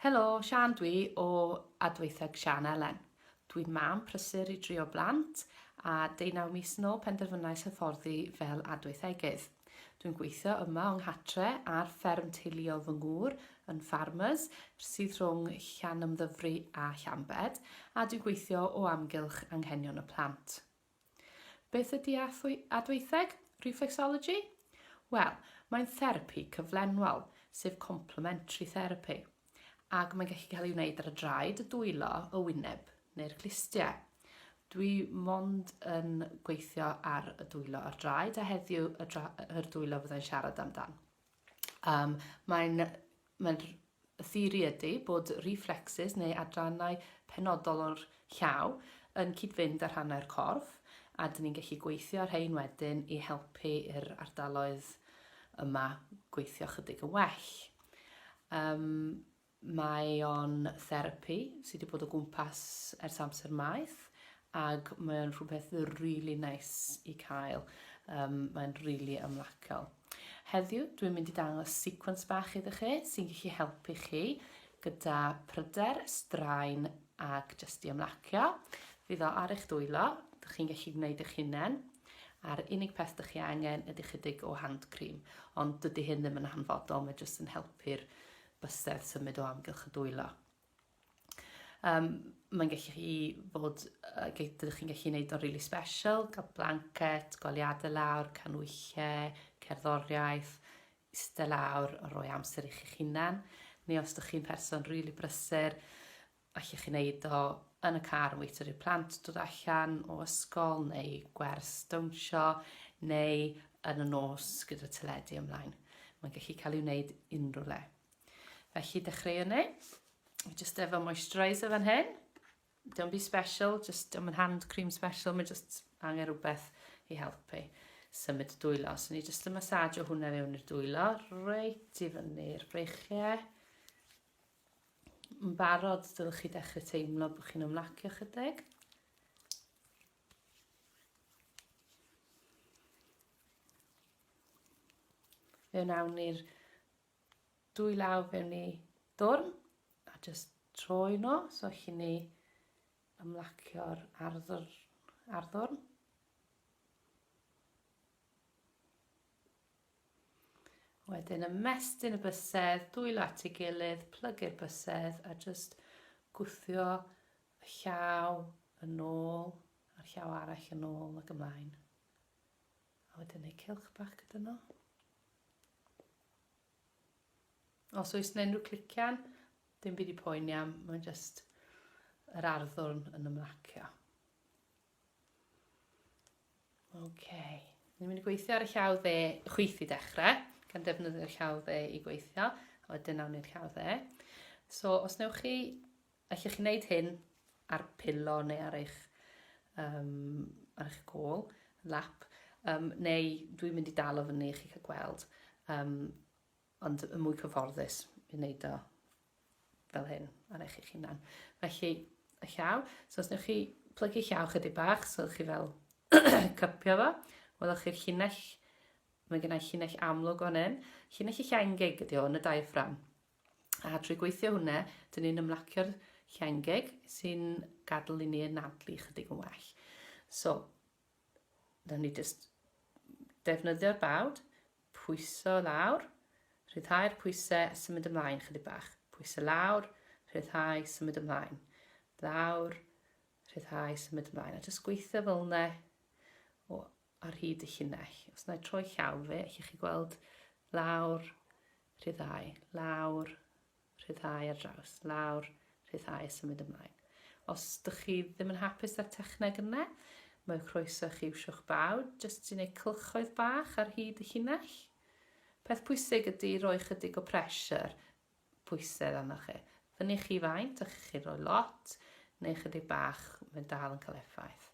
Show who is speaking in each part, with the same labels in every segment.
Speaker 1: Helo, Siân dwi o Adweitheg Siân Elen. Dwi'n mam prysur i drio blant a deunaw mis yn ôl penderfynais hyfforddi fel adweithegydd. Dwi'n gweithio yma o'ng nghatre ar fferm teuluol fy ngŵr yn Ffarmers sydd rhwng Llanymddyfri a Llambed a dwi'n gweithio o amgylch anghenion y plant. Beth ydy adweitheg, reflexology? Wel, mae'n therapi cyflenwol, sef complementary therapy, ac mae'n gallu cael ei wneud ar y draed, y dwylo, y wyneb neu'r glustiau. Dwi mond yn gweithio ar y dwylo a'r draed a heddiw y, dra y dwylo fyddai'n siarad amdan. Um, mae'n mae y theori ydy bod reflexes neu adrannau penodol o'r llaw yn cyd-fynd â rhannau'r corff a dyn ni'n gallu gweithio ar rhain wedyn i helpu i'r ardaloedd yma gweithio chydig yn well. Um, Mae o'n therapi sy 'di bod o gwmpas ers amser maith ag mae o'n rhywbeth rili neis i cael, um, mae'n rili ymlaciol. Heddiw dwi'n mynd i dangos sequence bach iddo chi sy'n gallu helpu chi gyda pryder, straen ag jyst i ymlacio. Fydd o ar eich dwylo, dych chi'n gallu gwneud eich hunain a'r unig peth dych chi angen ydy chydig o hand cream, ond dydy hyn ddim yn hanfodol, mae jyst yn helpu'r bysedd symud o amgylch y dwylo. Um, mae'n gallu chi fod, uh, dydych chi'n gallu gwneud o'n really special, cael blanket, goliadau lawr, canwychau, cerddoriaeth, eistedd lawr, roi amser i chi'ch hunan. Neu os ydych chi'n person really brysur, Allwch chi wneud o yn y car yn weithio i'r plant dod allan o ysgol neu gwers dawnsio neu yn y nos gyda teledu ymlaen. Mae'n gallu cael ei wneud unrhyw le. Felly dechreuwn ni. Just efo moisturiser fan hyn. Don't be special, just don't yn hand cream special, mae just angen rhywbeth i helpu symud y dwylo. So ni just yn massage o hwnna fewn i'r dwylo, reit i fyny'r breichiau. yn barod, dylech chi dechrau teimlo bod chi'n ymlacio chydig. Fe wnawn ni'r dwy law fewn ni dwrn a jyst troi nhw, so chi ni ymlacio'r arddwrn. arddwrn. Wedyn ymestyn y bysedd dwylo at ei gilydd, plygu'r bysedd a jyst gwthio y llaw yn ôl a'r llaw arall yn ôl ac ymlaen. A wedyn ei cilch bach gyda nhw. Os oes yna unrhyw clician, dim byd i poeni am, mae'n jyst yr arddwrn yn ymlacio. OK. Ni'n mynd i gweithio ar y llaw dde chwith i dechrau, gan defnyddio'r llaw dde i gweithio, a wedyn awn ni'r llaw dde. So, os newch chi, allwch chi wneud hyn ar pilo neu ar eich, um, ar eich gol, lap, um, neu dwi'n mynd i dal o fyny i chi cael gweld. Um, ond y mwy cyfforddus i wneud o fel hyn ar eich eich hunan. Felly, y llaw, so os newch chi plygu llaw chydig bach, so chi fel cypio fo, welwch chi'r llinell, mae gennau llinell amlwg o'n hyn, llinell y llangeg ydy hwn, y diaphragm. A trwy gweithio hwnna, dyn ni'n ymlacio'r llangeg sy'n gadw i ni yn adlu chydig yn well. So, Rydyn ni jyst defnyddio'r bawd, pwyso lawr, rhyddhau'r pwysau a symud ymlaen chydig bach. Pwyso lawr, rhyddhau, symud ymlaen. Lawr, rhyddhau, symud ymlaen. A jyst gweithio fel yna o ar hyd y llinell. Os na i troi llaw fe, allwch chi gweld lawr, rhyddhau, lawr, Rhyddhau ar draws, lawr, rhyddhau, symud ymlaen. Os dych chi ddim yn hapus â'r techneg yna, mae o croeso i chi iwsio'ch baw jyst i wneud cylchoedd bach ar hyd y llinell. Peth pwysig ydy roi chydig o pressure, pwysedd arnoch chi. Fyny chi faint, a chi'n rhoi lot, neu chydig bach, mae'n dal yn cael effaith.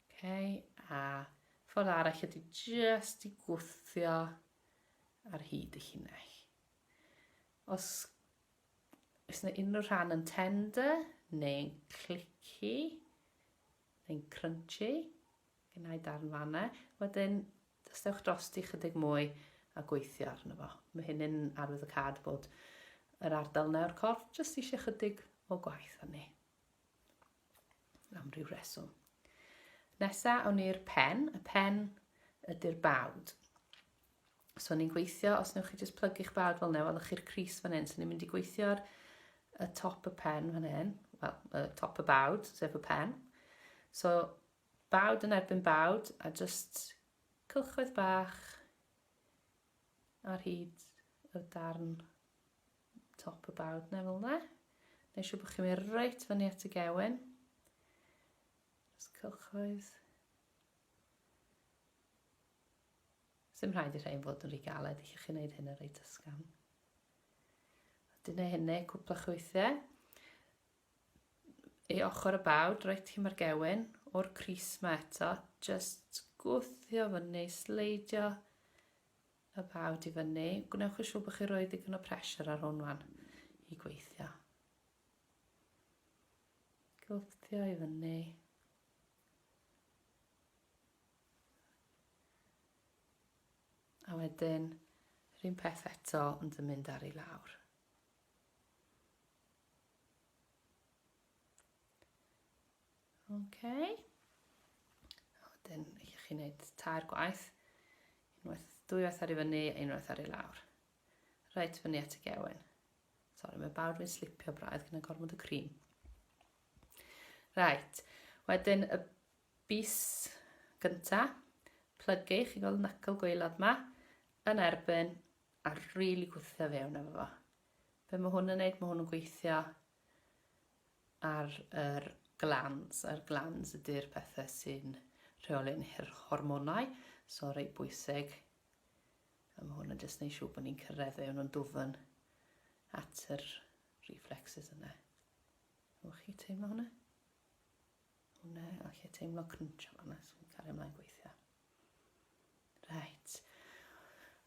Speaker 1: Okay. A ffordd arall ydy jyst i gwthio ar hyd y llinell. Os oes yna unrhyw rhan yn tender neu'n clicky neu'n crunchy, gynnau darn fanna. Wedyn, dystewch drosti chydig mwy a gweithio arno fo. Mae hyn yn arwydd y cad bod yr ardal yna o'r corff jyst eisiau chydig o gwaith arni. Am ryw reswm. Nesa, awn ni'r pen. Y pen ydy'r bawd. So ni'n gweithio, os newch chi jyst plygu'ch bawd fel neu, welwch chi'r cris fan hyn. So ni'n mynd i gweithio'r y top y pen fan hyn, wel, y top y bawd, sef y pen. So bawd yn erbyn bawd, a jyst cylchoedd bach ar hyd y darn Top y bawd na fel na. Neu siw bod chi'n mynd reit fyny at y gewen. Os cylchoedd. Sym rhaid i rhaid fod yn rhy galed i chi wneud hyn yn reit ysgam. Dyna hynny, cwpla chwythiau. Ei ochr y bawd, reit hi mae'r gewen, o'r cris ma eto, just gwthio fyny, sleidio, Y bawd i fyny, gwnewch yn siŵr bod chi'n rhoi digon o pressure ar hwn wan i gweithio. Gwthio i fyny. A wedyn, yr un peth eto ond yn mynd ar ei lawr. OK. A wedyn i chi wneud tair gwaith. Unwaith, dwy waith ar i fyny a unwaith ar i lawr. Reit fyny at y gewyn. Sorry, mae bawd fi'n slipio braidd gyda gormod y cream. Reit, wedyn y bus gynta, plygu, chi gweld nacl gweilod ma, yn erbyn a rili really gwthio fewn efo fo. Be mae hwn yn neud? Mae hwn yn gweithio ar yr glands, a'r glands ydy'r pethau sy'n rheoli'n hormonau, so reit bwysig. A mae hwn yn jyst neud siŵr bod ni'n cyrraedd fe, nhw'n dwfn at yr reflexes yna. Nwch chi teimlo hwnna? Hwnna, a chi teimlo crunch am hwnna, so fi'n cario ymlaen gweithio. Reit.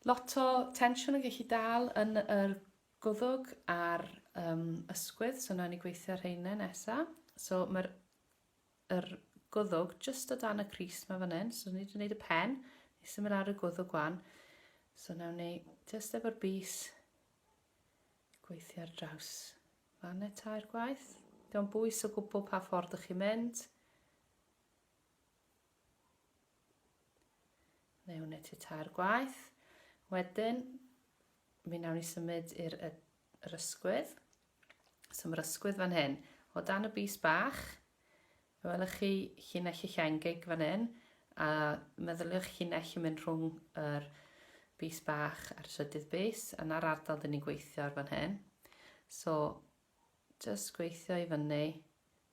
Speaker 1: Lot o tensiwn yn gallu dal yn yr Gwddg a'r yym ysgwydd, so nawn ni gweithio rheine nesa. So ma'r yr gwddwg jyst o dan y crys ma fan hyn, so ni wedi gwneud y pen, ni symud lawr y gwddwg wan. So nawn ni jyst efo'r bys gweithio ar draws fanne tair gwaith. Diolch bwys o gwbl pa ffordd ych chi'n mynd. Neu wneud ti tair gwaith. Wedyn, mi wnawn ni symud i'r yr ysgwydd. So mae'r ysgwydd fan hyn. O dan y bus bach, fe welwch chi llinell y llengig fan hyn, a meddyliwch llinell yn mynd rhwng yr bus bach a'r trydydd bus, yna'r ardal dyn ni'n gweithio ar fan hyn. So Jyst gweithio i fyny.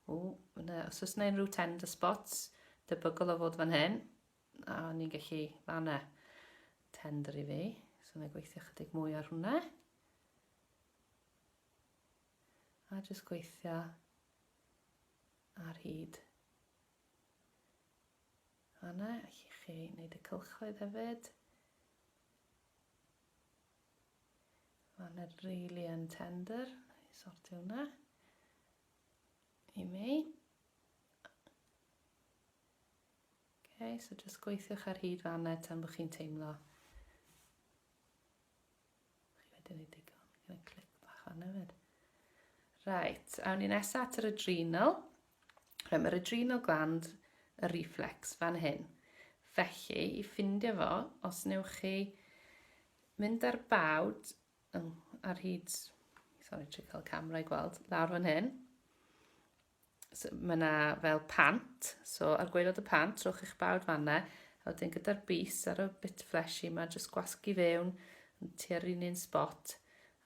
Speaker 1: Ww, ma' 'na... Os oes 'na unrhyw tender spots, debygol o fod fan hyn. A, o'n i'n gallu... Ma' 'na tender i fi. So, na i gweithio chydig mwy ar hwnna. A jyst gweithio ar hyd fanna, allwch chi wneud y cylchoedd hefyd. Mae'n yn really yn tender. I sortio hwnna. I mi. Okay, so just gweithiwch ar hyd fanna tan bod chi'n teimlo. Chi wedi ei digon. Gyda clic bach fanna fyd. Right, awn ni nesaf at yr adrenal. Reit, mae'r adrenal gland, y reflex, fan hyn. Felly, i ffindio fo, os newch chi mynd ar bawd oh, ar hyd, sorry, trwy cael camera i gweld, lawr fan hyn. So, mae yna fel pant, so ar gwaelod y pant, trowch eich bawd fanna, a wedyn gyda'r bus ar y bit fleshy yma, jyst gwasgu fewn, tua'r un un spot,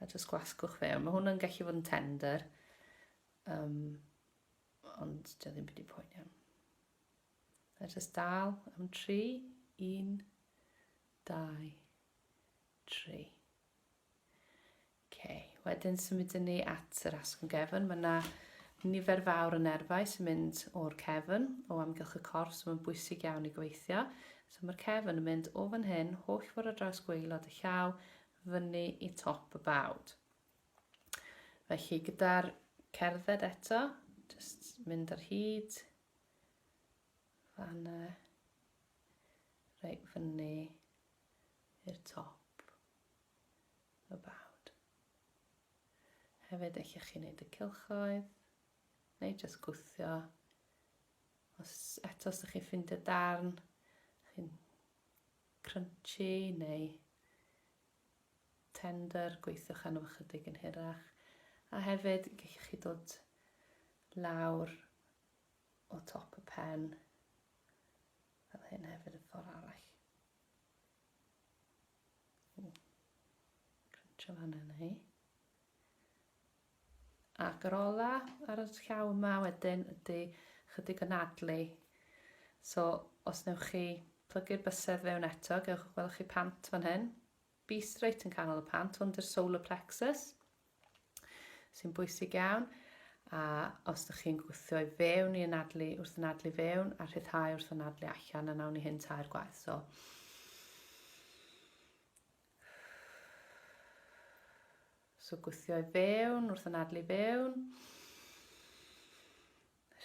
Speaker 1: a jyst gwasgwch fewn. Mae hwn yn gallu fod yn tender, Yym, ond dio ddim byd i poeni am. Let us dal am tri, un, dau, tri. Okay. Wedyn symudyn ni at yr asgwrn gefn. Mae yna nifer fawr o nerfau sy'n mynd o'r cefn o amgylch y corff, so mae'n bwysig iawn i gweithio. So mae'r cefn yn mynd o fan hyn, holl ffordd ar draws gweilod y llaw, fyny i top y bawd. Felly gyda'r cerdded eto, just mynd ar hyd fan y reit fyny i'r top y bawd. Hefyd eich chi wneud y cilchoedd neu just gwthio. Os eto os ydych chi'n ffindio darn, chi'n crunchy neu tender, gweithiwch arno fo chydig yn hirach, a hefyd y gellwch chi dod lawr o top y pen, fel hyn hefyd y ffordd arall. Crunch o fan yna hi. Ac yr ola ar y llaw yma wedyn ydy chydig o nadlu. So os newch chi plygu'r bysedd fewn eto, gewch, welwch chi pant fan hyn. Beast reit yn canol y pant, hwn dy'r solar plexus, sy'n bwysig iawn. A os ydych chi'n gwthio i fewn i anadlu, wrth anadlu fewn, a rhyddhau wrth anadlu allan, a nawn ni hyn tair gwaith. So, So gwthio i fewn wrth anadlu fewn.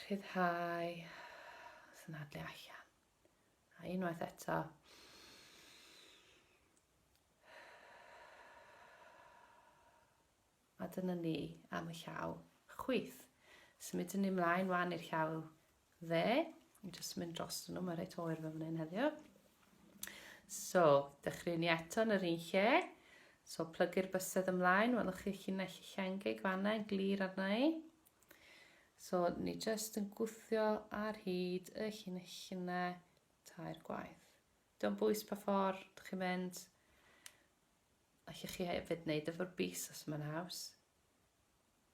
Speaker 1: Rhyddhau. Wrth anadlu allan. A unwaith eto. A dyna ni am y llaw chwith. Symudwn ni mlaen wan i'r llaw dde. Ni'n just mynd dros nhw, mae reit oer fe fan hyn heddiw. So, dechrau ni eto yn yr un lle. So, plygu'r bysedd ymlaen, welwch chi llinell llichengig fanna yn glir arna i. So, ni just yn gwthio ar hyd y llinell yna tair gwaith. Dwi'n bwys pa ffordd, chi'n mynd, Allwch chi hefyd wneud efo'r bys os mae'n haws.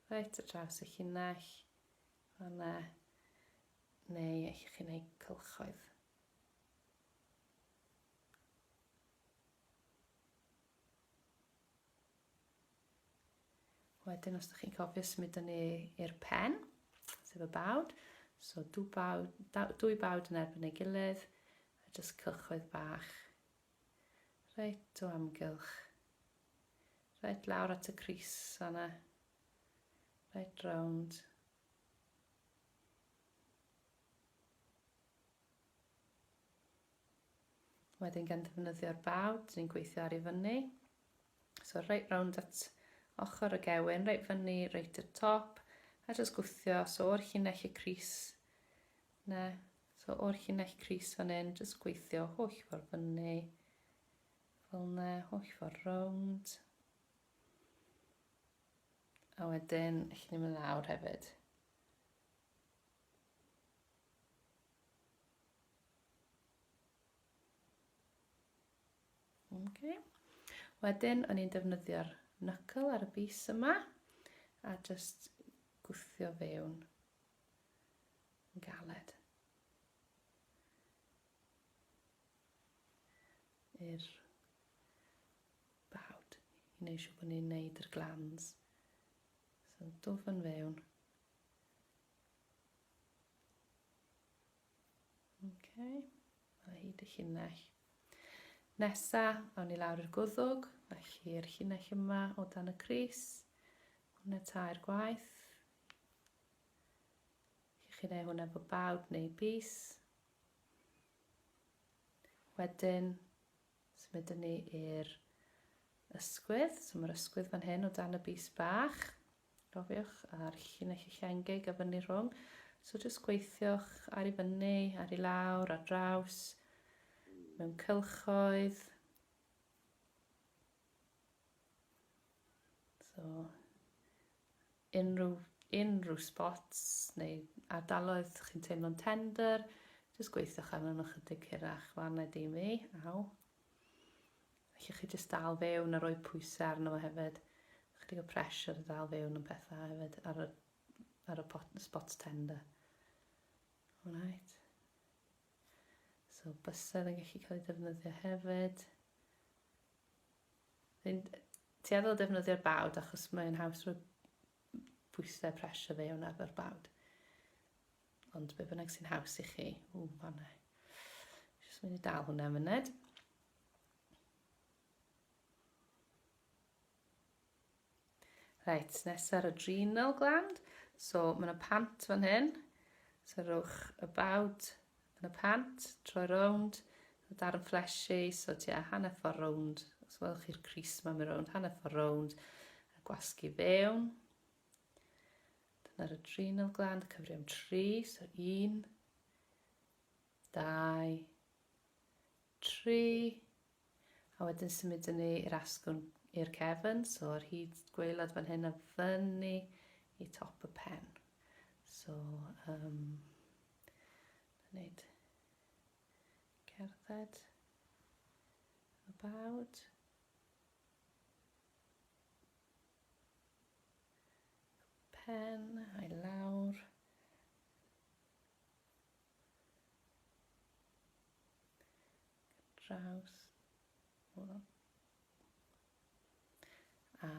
Speaker 1: Reit ar draws y llinell, fanna, neu allwch chi wneud cylchoedd. Wedyn os ydych chi'n cofio symud yn i'r pen, sef y bawd, so dwy bawd, dwy bawd yn erbyn ei gilydd, a jyst cylchoedd bach Reit o amgylch. Reit lawr at y crys fanna. Reit rownd. Wedyn gan ddefnyddio'r bawd, dyn ni'n gweithio ar ei fyny. So reit rownd at ochr y gewyn, reit fyny, reit y top, a jyst gwthio, so o'r llinell y crys, 'na, so o'r llinell crys fan hyn, jyst gweithio holl ffordd fyny, fel 'na, holl ffordd rownd. A wedyn, allan ni mynd lawr hefyd. Okay. Wedyn, o'n i'n defnyddio'r knuckle ar y bus yma, a just gwthio fewn yn galed. I'r bawd i wneud siw bod ni'n neud yr glans. So dwf yn fewn. Okay. Mae hyd y llinell. Nesa, awn ni lawr i'r gwddwg, felly i'r llinell yma o dan y Cris. Hwna tair gwaith. Chi'n gallu gwneud hwnna efo bawd neu bys. Wedyn, symudwn ni i'r ysgwydd. So mae'r ysgwydd fan hyn o dan y bys bach. Rofiwch a'r llinell eich engeg a fyny rhwng. So jyst gweithiwch ar i fyny, ar i lawr, ar draws, mewn cylchoedd. So, Unrhyw, unrhyw spots neu ardaloedd chi'n teimlo'n tender, jyst gweithiwch arnyn nhw chydig hirach, fan na dim i, aw. Felly chi jyst dal fewn a rhoi pwysau arno fo hefyd. Chydig o pressure i dal fewn yn pethau hefyd ar y, ar y pot, spots tender. Alright. So bysedd yn gallu cael ei defnyddio hefyd. Fi'n tueddol o defnyddio'r bawd achos mae'n haws rhoi bwysau pressure fe o'n arfer bawd. Ond be bynnag sy'n haws i chi. O, fanna. Jyst mynd i dal hwnna yn myned. Reit, nes ar adrenal gland. So, mae yna pant fan hyn. So, rhowch y bawd yn y pant, troi rownd, y darn fleshy, so tua hanner ffordd rownd. Os welwch chi'r cris yma, mae rownd, hanner ffordd rownd, a gwasgu fewn. Dyna'r adrenal gland, cyfri am tri, so un, dau, tri, A wedyn symudwn ni i'r asgwrn i'r cefn, so ar hyd gwaelod fan hyn a fyny i top y pen. So, um, na wneud cerdded about. Pen, a'i lawr. draws hwnnw. A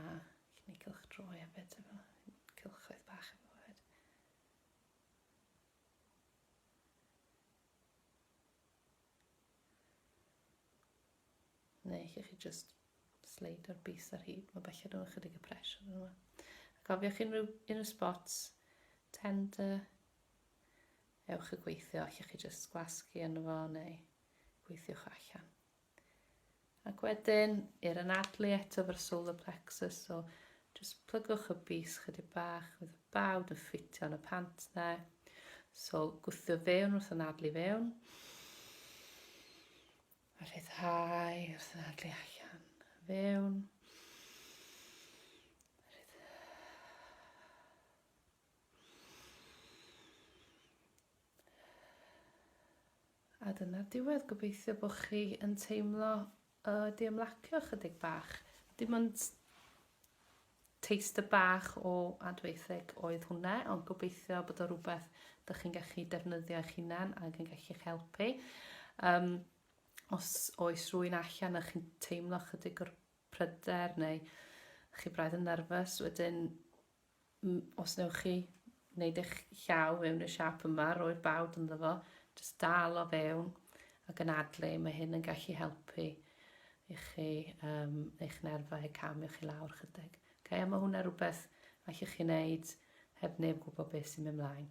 Speaker 1: chi'n ei cylch droi a beth efo cylchoedd bach efo hefyd. Neu chi chi just sleid o'r bus ar hyd, mae bellach nhw'n ychydig y pres yn yma. A cofiwch unrhyw, unrhyw spots tender Ewch i gweithio, allwch chi jyst gwasgu yno fo neu gweithiwch allan. Ac wedyn, i'r anadlu eto fo'r solar plexus, so jyst plygwch y bys chydig bach, fydd y bawd yn ffitio yn y pant na. So gwthio fewn wrth anadlu fewn. A rhyddhau wrth anadlu allan. Fewn. A dyna'r diwedd, gobeithio bod chi yn teimlo y diymlacio ychydig bach. Dim ond taster bach o adweitheg oedd hwnna, ond gobeithio bod o rhywbeth dych chi'n gallu defnyddio eich hunan ac yn gallu eich helpu. Um, os oes rwy'n allan a chi'n teimlo chydig o'r pryder neu chi braidd yn nerfus, wedyn os newch chi wneud eich llaw mewn y siap yma, roi'r bawd ynddo fo, jyst dal o fewn ac yn adlu, mae hyn yn gallu helpu i chi um, eich nerfau camio chi lawr chydig. Okay, a mae hwnna rhywbeth allwch chi wneud heb neb gwybod beth sy'n mynd mlaen.